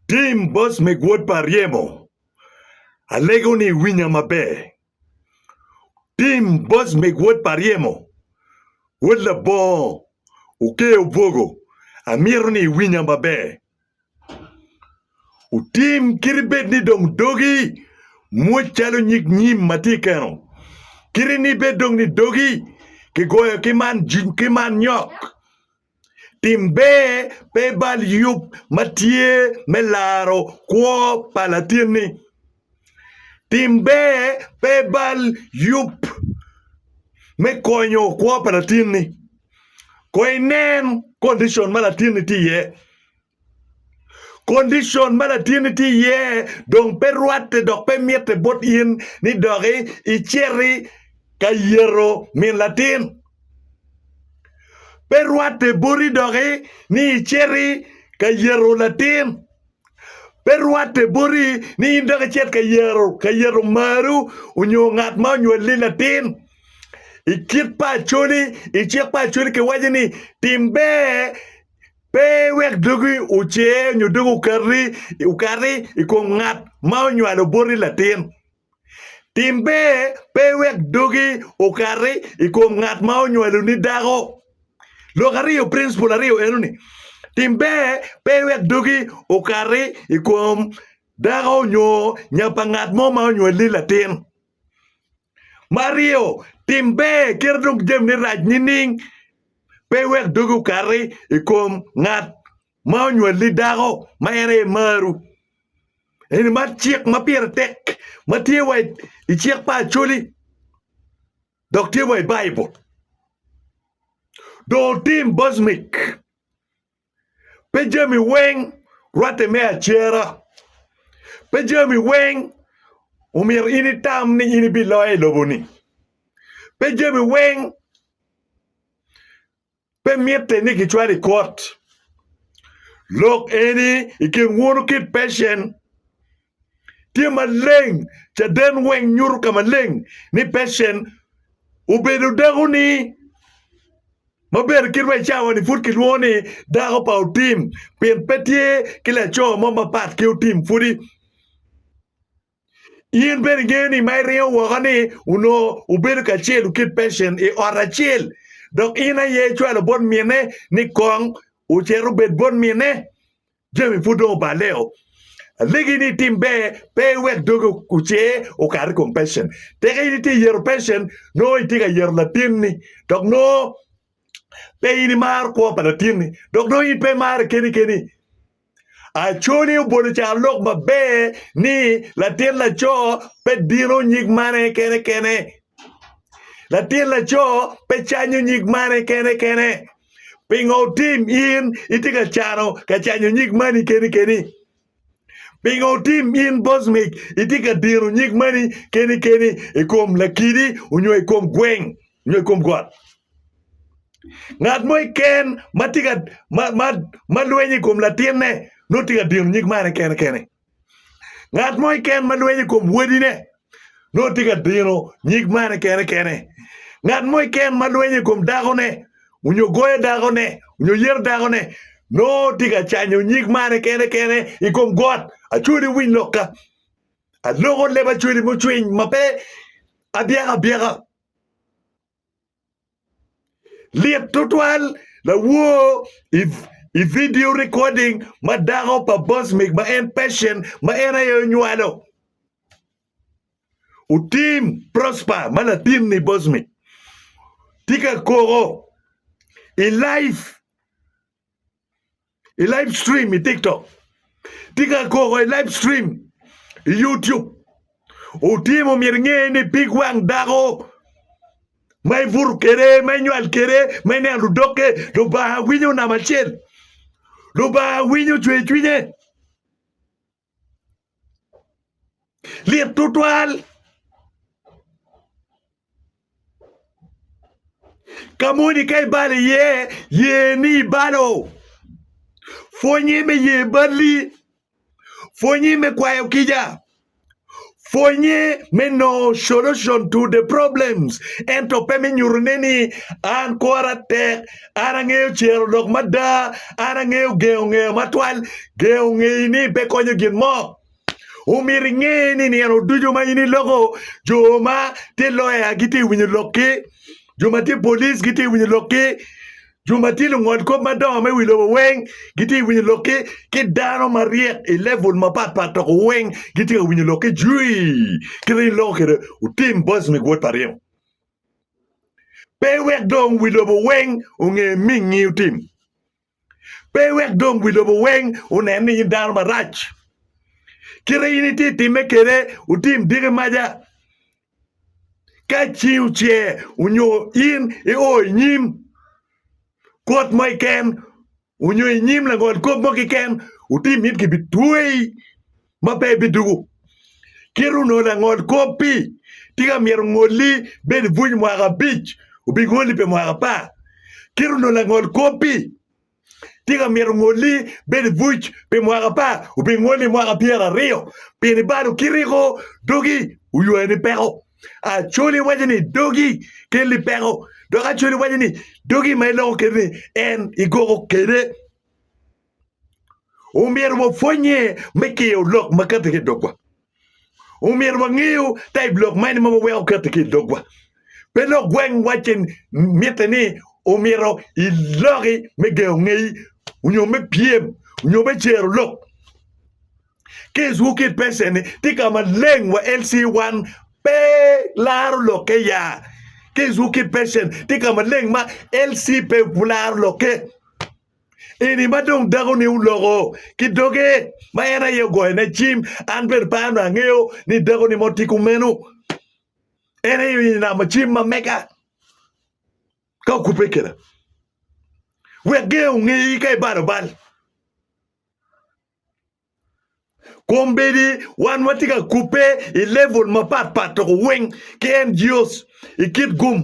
Tim bos me gwod pa ryemo. Alego ni iwinya maber. Tim bos me gwod pa ryemo. Wod labongo oker obwogo amito ni iwinya maber. Otim kiti bed ni dong dogi mwoc calo nyig nyim ma tye i keno. Kiti ni bed dong ni dogi kigoyo ki man nyok. Tim ber pe ibal yub ma tye me laro kwo pa latinni. Tim ber pe ibal yub me konyo kwo pa latinni. Kono inen kondicon ma latinni tye iye. Kondicon ma latinni tye iye dong pe rwatte dok pe mitte bot in ni dok iciti ka yeto min latin. Pe rwatte boti doki ni iciti ka yeto latin. Pe rwatte boti ni in dok icit ka yeto ka yeto omaru onyo ngat ma onywali latin. I kit pa Acholi, i cik pa Acholi kiwaco ni tim ber Pe iwek dogi ocer nyo dogi okati i kom ngat ma onywalo boti latin. Tim ber, pe iwek dogi okati i kom ngat ma onywaloni dako. Lok aryo, principle aryo enoni, tim ber, pe iwek dogi okati i kom dako nyo nya pa ngat mo ma onywaloni latin. Me aryo, tim ber kit adong jamine rac nining? Pe iwek dogi okati i kom ngat ma onywali dako ma en aye marwu. Eni man cik ma pire tek ma tye wa i cik pa Acholi dok tye wa i Baibul. Dong otim bocmic Pe jami weng rwatte me acera. Pe jami weng omyero in itam ni in ibiloyo i lobo-ni. Pe jami weng pe mitte ni kicwalo i kot. Lok eni i kin wunu ki Pecen. tye maleng. Caden weng nyuto ka maleng ni Patience obedo dako ni maber kit ma i cawa ni pud kilwongo ni dako pa otim pien pe tye ki laco mo mapat ki otim pudi. In bene ingeyo ni ma iringo woko ni onongo obedo kacel ki Patience i ot acel dok in aye icwalo bot mine ni kong ocito obed bot mine. Jami pud dong oballe-o. Alegi ni itim ber, pe iwek dogi ocer okat i kom pecen. Tika in itye yero pecen, nongo itye ka yero latinni, dok nongo pe in imaro kwo pa latinni, dok nongo in pe imarre keni keni. Acoli obolo caro lok maber ni latin laco pe dino nyig mane kene kene Latin laco pe canyo nyig mane kene kene. Pingo otim in itye ka cano ka canyo nyig mani keni keni? Pingo otim in bocmic itye ka dino nyig mani keni keni i kom lakidi onyo i kom gweng onyo i kom got? Ngat mo keken ma tye ka ma ma ma lwenyo i kom latinne nongo tye ka dino nyig mane kene kene. Ngat mo keken ma lwenyo i kom wadine nongo tye ka dino nyig mane kene kene. Ngat mo keken ma lwenyo i kom dakone onyo goyo dakone onyo yero dakone nongo tye ka canyo nyig mane kene kene i kom got. Acwodi iwiny lokka, aloko leb acwodi mucwiny ma pe abyeka abyeka. Lit tutwal, lawor i vidio recording ma dako pa Bosmik ma en Persian ma en aye onywalo otim Prosper ma latin ni Bosmik tye ka koko i live i live stream i TikTok, tye ka koko i live stream i YouTube. Otimo myero inge ni pig wang dako ma ibuto kede, ma inywal kede, ma ineno ludokke, Lubanga winyo namba acel. Lubanga winyo cwer cwinye. Lit tutwal. Ka moni ka ibalo iye, ye ni ibalo. Pwonye me ye balli. Pwonye me kwayo kica. Pwonye me nongo solution to the problems ento pe me nyuto ne ni an kora tek, an angeyo cero lok mada, an angeyo gengo ngeyo matwal. Gengo ngeyi ni pe konyo gin mo. Omyero inge ni nino ducu ma in iloko jo ma tye lawyer gitye winyo lokki, jo ma tye police gitye winyo lokki, Jo ma tye lungolkop madongo me wi lobo weng gitye ka winyo lok ki ki dano maryek i level mapat pat dok weng gitye ka winyo lok ki jui kit ma in iloko kwede utim boys me gwot pa ryeko pe wek dong wi lobo weng onge mingi utim pe wek dong wi lobo weng onen ni in dano marac kit ma in itye ka timme kwede utim diki maca Ka cing ocer onyo in io i nyim kot mo keken onyo i nyim langol kop mo keken ati mit gibitweyi ma pe ibiduku. Kit onongo langol kop-pi tye ka myero ongolli bed i buc mwaka abic obingolli pi mwaka apar. Kit onongo langol kop-pi Tika myero ongolli bed i buc pi mwaka apar, obingolli i mwaka pyeraryo? Pien ibalo kiti ko, dogi oywayo ni peko. Acholi iwaco ni dogi kelli peko, dok acholi iwaco ni dogi ma iloko kiti ni en igoko kede. Omyero wapwonye me kiyo lok makati ki i dogwa. Omyero wangeyo taib lok mene ma waweko keto ki i dogwa. Pe lok gweng wacce mitte ni omyero iloki me gengo ngeyi onyo me pyem onyo me cero lok. Keswu ki i pecen-ni tye ka maleng wa LC wan pe laro lokke ya. Keswu ki i pecen tye ka maleng ma LC pe laro lokke. Eni ma dong dakoni oloko ki doge ma en aye ogoyone cim, an bene pe anongo angeyo ni dakoni mo tye kumeno. En aye onamo cim ma mega ka okubbe keda. Wek ger ongeyi ka ibalo bal. Kombeddi wan watye ka kubbe i level mapat pat toko weng ki en GOs i kit gum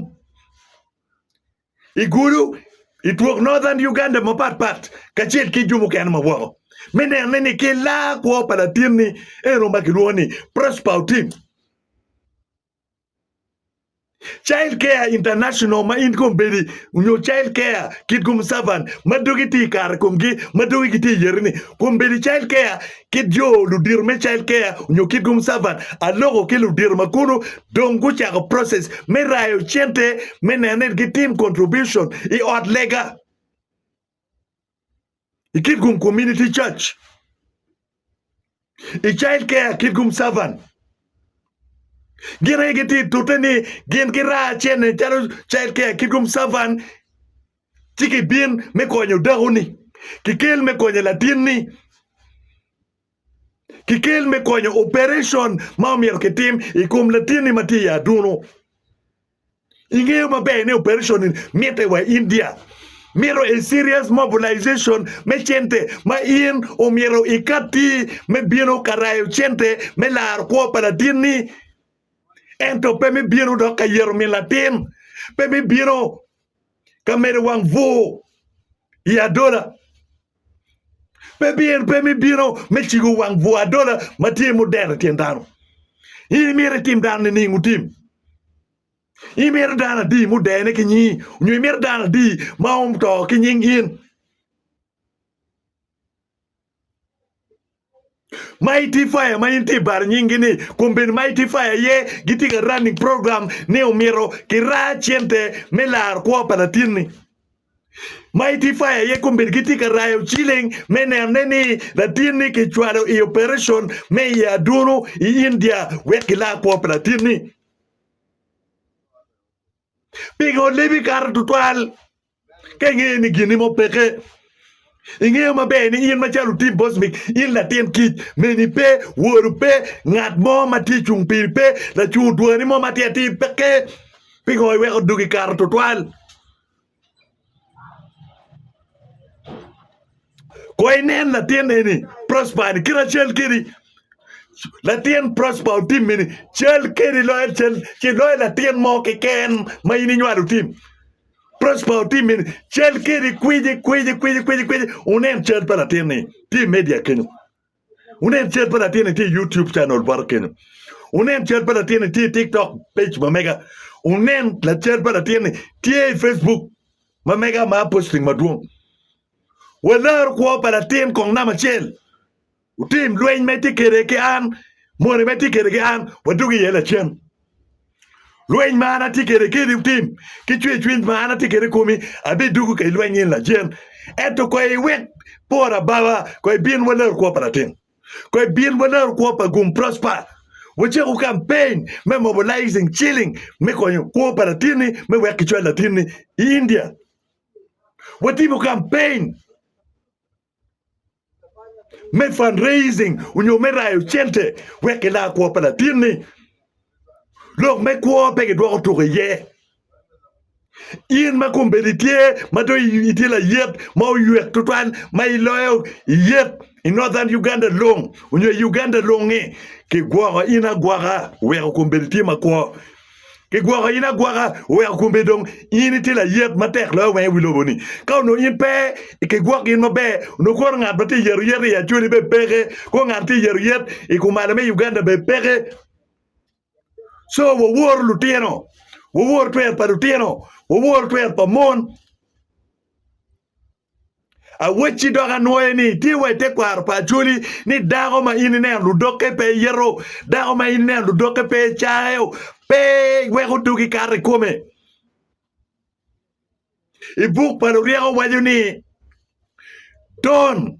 i gudo i twok Northern Uganda mapat pat kacel ki jo mukene ma woko me neno ni ni ki laa kwo pa latinni eno ma kilwongo ni Prosper Otim. Child Care International ma in kom bedi nyo Child Care Kit Gum Servant ma dogi tye i kare komgi ma dogi gitye i yere ni kom bedi Child Care kit jo ludito me Child Care nyo Kit Gum Servant aloko ki ludito ma kunu dong gucako process me rayo cente me neno ni gitim contribution i ot lega. ikit kom community church i child care kit kom servant gin aye gitye i tute ni gin giraa cene calo child care kit kom servant ci kibin me konyo dakoni kikel me konyo latinni ki kel me konyo operation ma omyero ki tim i kom latinni ma tye i adunu i ngeyo ma ber ni operation ni mitte wa india mito a serious mobilization me cente ma in omyero i katti me bino ka rayo cente me laro kwo pa latinni ento pe me bino dok ka yero min latin pe me bino ka medo wang bur i adola Pe biyero pe me bino me cigo wang bwo adola ma tye mudero i tyen dano. In imito itim dano nining? Wutim. Imito dano adi mudene ki nyingi, nyo imito dano adi ma oto ki nying in? Mighty Fire ma in tye i bar nyingi ni kun bene Mighty Fire aye gitye ka running program ni omyero ki raa cente me laro kwo pa latin ni Mighty Fire aye kun bene gitye ka rayo ciling me nene ni latin ni ki cwalo i operation me i adunu i India wek ki laa kwo pa latin ni Pingo lebi kato tutwal ka ingeyo ni ginni mo peke? Ingeyo maber ni in macalo otim bocmi, in latin kic, meni pe, woru pe, ngat mo ma tye cung piri pe, lacungo dwani mo ma tye atir peke. Pingo iweko dugi kato tutwal? Kong inen latin eni Prosper ni kit ma cal kedi latin Prosper otimme-ni cal kedi loyo cal ci loyo latin mo keken ma in inywalo otim Prosper otimme-ni cal kedi kwici kwici kwici kwici wunen cal pa latin-ni tye i media kenyo. Wunen cal pa latinni tye i YouTube channel bota kenyo. Wunen cal pa latinni tye i TikTok page ma mega. Wunen lacal pa latinni tye i Facebook ma mega ma posting madwong. Walar kwo pa latin kong namba acel. Wutim lweny ma itye kwede ki an, moni ma itye kwede ki an, wadog iye lacen. Lweny ma an atye kede keni wutim ki cwercwiny ma an atye kede i komi, abidwogo ka ilweny in lacen. Ento koy iwek por ababa, koy ibin wa larukwo pa latin, koy ibin wa larukwo pa gum Prosper, wacak wu campaign me mobilizing ciling me konyo kwo pa latinni me wek kicwal latinni i India. Watimo campaign. me fund raising onyo me rayo cente wek ki la kwo pa latin ni lok me kwo pe ki dwoko tuko iye in ma kombeddi tye ma dong itye layet ma oywek tutwal ma iloyo iyet i northern Uganda long onyo i Uganda longi ki gwoko in agwoka oweko kombeddi tye ma kwo Kigwoko in agwoka, oweko kombe dong in itye layet matek loyo wenge wi lobo-ni. Ka onongo in pe kigwoko in maber, onongo koro ngat ma tye ka yero yet i Acholi bene peke, kong ngat ma tye ka yero yet i kumalo me Uganda bene peke. Co, wawor lutino, wawor twer pa lutino, wawor twer pa mon. Awecci dok anwoye ni, tye wa i tekwaro pa Acholi ni dako ma in ineno ludokke pe yeto, dako ma in ineno ludokke pe cayo, pe weko dogi kato i kome. I buk pa luryeko waco ni, Ton.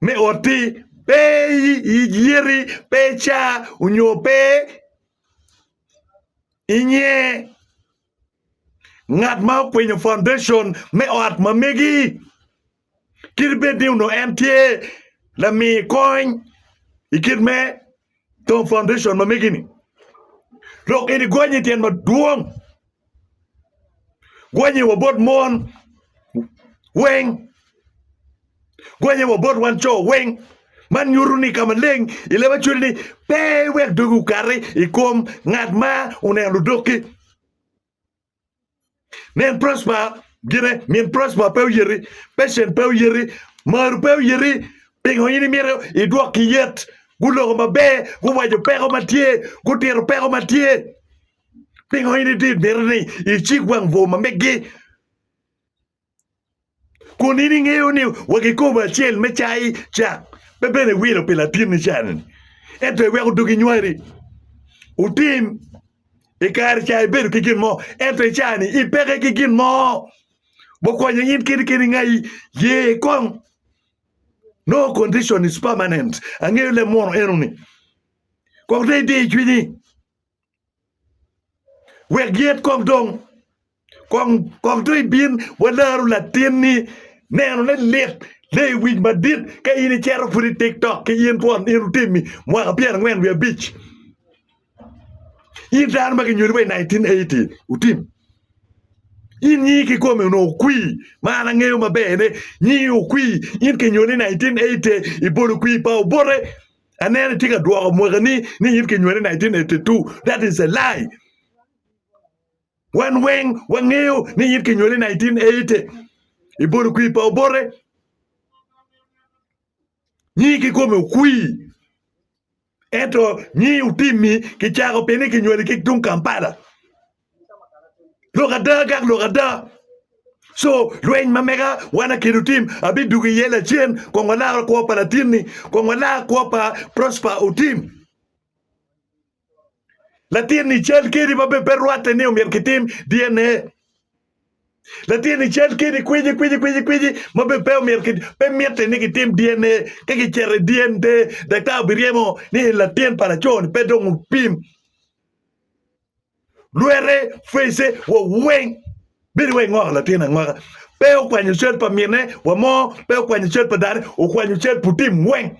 me otti pe iyiti pe ica onyo pe inye ngat ma okwinyo foundation me ot ma megi kadi bed ni onongo en tye lami kony i kit me tongo foundation ma megi ni lok eni gonye tyen madwong Gwenye wa bot mon weng, gwenye wa bot wan co weng. Man nyuto ni ka maleng i leb acwali ni pe iwek dogi okati i kom ngat ma oneno ludokki. Nen Prosper gine, min Prosper pe oyeti, Patient pe oyeti, Maru pe oyeti, pingo in imito idwokki yet? Guloko maber, guwaco peko ma tye, gutito peko ma tye. Pingo in itye miti ni icik wang bur ma megi? Kun in ingeyo ni wa kikobo acel me cai ca pe bene iwilo pi latinni cani, ento iweko dogi nywari. Wutim i kare ca ibedo ki gin mo, ento i cani ipeke ki gin mo. Wakonye in kiti kiti ngai ye kong. No condition is permanent. Angeyo leb munu eno ni. Kong te idi i cwinyi. wek yet kong dong kong kong dong ibin walaro latinni neno ne lit le iwic madit ka in icero pud i tiktok ki in twon in otimi mwaka pyera angwen wiye abic in dano ma kinyoli wa i 1980 otim in nyingi kikome onongo okwi ma an angeyo maber ne nyingi okwi in kinyoli i 1980 ibolo kwi pa obote Aneno itye ka dwoko mwaki ni ni in kinywali 1982. That is a lie. Wan weng wangeyo ni in kinywali 1980. Ibolo kwi pa obote. Nyi kikome okwi. Ento nyi otimi kicako pi ni kinywali ki tung Kampala. Lok ada agak lok ada. Co lweny ma mega wan akedo tim abidugo iye lacen kong walaro kwo pa latinni kong walar kwo pa Prosper Otim. Latinni cal kedi ma bene pe rwatte ni omyero kitim DNA. Latinni cal kedi kwiji kwiji kwiji kwiji ma bene pe omyero ki- pe mitte ni kitim DNA. Ka kiceto i DNA, daktar obiryemo ni en latin pa laco-ni pe dong opim. Lwete, face, wa weng bedo wai ngoko latin angoka. Pe okwanyo cal pa mine wa mo, pe okwanyo cal pa dane, okwanyo cal pu tim weng.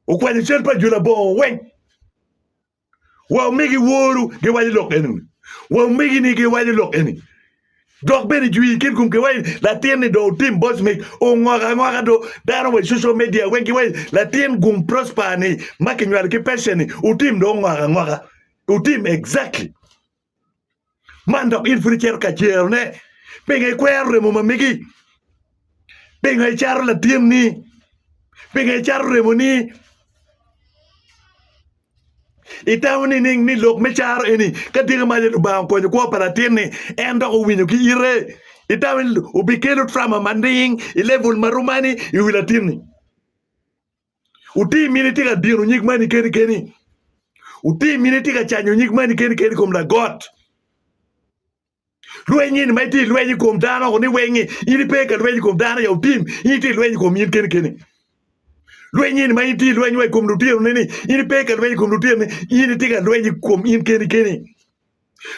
Okwanyo cal pa jula bongo weng. Wa omegi woru giwajo lok eni. Wa omegi ni giwajo lok eni. Dok bene jwi kin kum giwajo ni latin ni do otim boss mic ongoko angoka do dano wa i social media weng giwajo latin gum prosper ni ma kinywalo ki passion ni otim do ongoko angoka. Otim exactly man dok in pud icito ka jero ne pinga ikwero remo ma megi pinga icato latin ni pinga icato remo ni itamo ni ning ni lok me caro eni ka dyeke ma aye lubanga okonyo kwo pa latin ni en dok owinyo ki ite itamo ni obikelo trama ma ning i level ma romani iwi latin ni Wuti mini tye ka dino nyig mani keni keni? Wuti mini tye ka canyo nyig mani keni keni kom lagot? Lweny eni ma itye i lweny i kom dano ni weng in ipe ka lweny i kom dano ya wutim in itye i lweny i kom in keni keni. Lweny eni ma in tye i lweny wa i kom lutino ni in ipe ka lweny i kom lutino in itye ka lweny i kom in keni keni.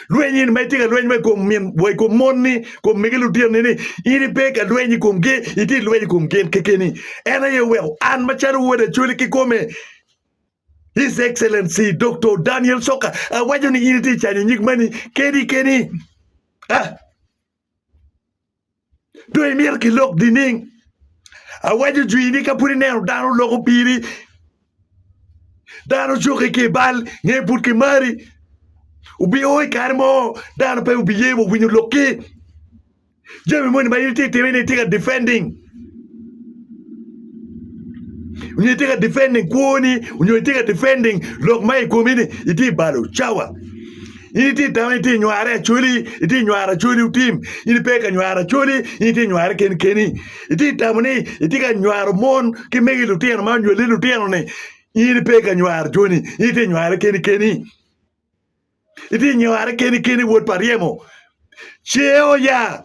Lweny in ma itye ka lweny wa i kom min wa i kom monni, kom mege lutinoni ni in ipe ka lweny i komgi, itye lweny i kom gin kekeni. En aye oweko an macalo wod acwali kikome His Excellency Doktor Daniel Soka awaco ni in itye canyo nyig mani keni keni. Ah! Dong imito gilok nining? Awaco jwi ni ka pud ineno dano loko piri, dano cuki ki i bal nge pud kimari. Wubio i kare mo dano pe wubiye wa winyo lokki. Jami moni ma in itye ka timmi ni itye ka defending. Nyo itye ka defending kwoni nyo itye ka defending lok ma i komi ni itye balo cawa in itye tamo ni itye nyware acholi itye nywaro acholi otim in ipe ka nywaro acholi in itye nyware kenkeni itye tamo ni itye ka nywaro mon ki mege lutino ma onywali lutinoni in ipe ka nywaro joni in itye nyware kenikeni itye nyware kenikeni wod pa ryemo ce oya.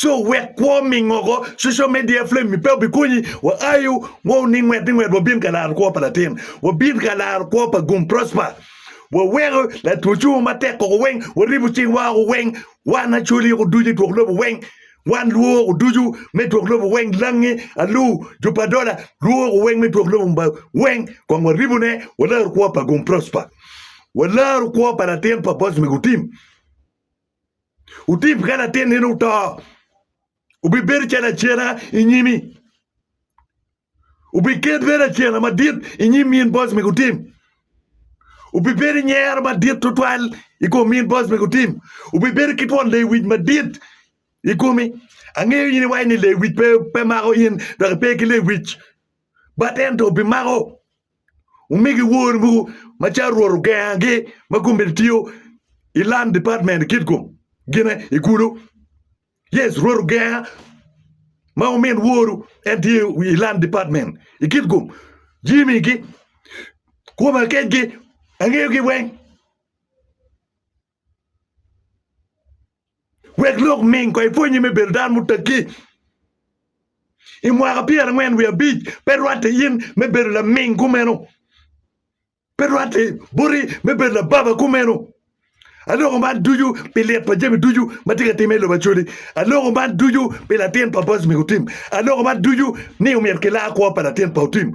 Co wek kwo mingogo coco me diya flem mi pe obi konyi wa ayu wa oning ngwet ni ngwet wa bin ka laro kwo pa latin wa bin ka laro kwo pa gum prosper wa weko latwo cungo ma tek koko weng wa ribu cing wa oko weng wan acoli oko ducu itwok lobo weng wan lwo oko ducu me twok lobo weng langi alu ju pa dola lwo oko weng me twok lobo ba weng kong wa ribu ne wa laro kwo pa gum prosper wa laro kwo pa latin pa boss me gutim Wutip ka latin nino oto, wubibedo calo acena i nyimi. Wubiket bedo acena madit i nyim min boc me gutim. Wubibedo i nyero madit tutwal i kom min boc me gutim. Wubibedo ki twon lewic madit i komi. Angeyo in iwaco ni lewic pe, pe mako in dok ipe ki lewic, bat ento bimako. Wumigi wor mogo ma calo Rwot ogengagi ma gum bene tiyo i Land Department i kit gum gine i kulu. Yes, Rwot ogenga ma wumin woru en tye i Land Department i kit gum. Jimmy ki Kuma kecgi angeyogi weng. Wek lok ming kong ipwonye me bedo dano mutegi. I mwaka pyerangwen wiye abic pe rwatte in me bedo laming kumeno, pe rwatte boti me bedo lababa kumeno. Aloko man ducu pi lit pa jami ducu ma tye ka timme i lobo Acholi. Aloko man ducu pi latin pa Boaz Mikutim. Aloko man ducu ni omyero kilar kwo pa latin pa Utim.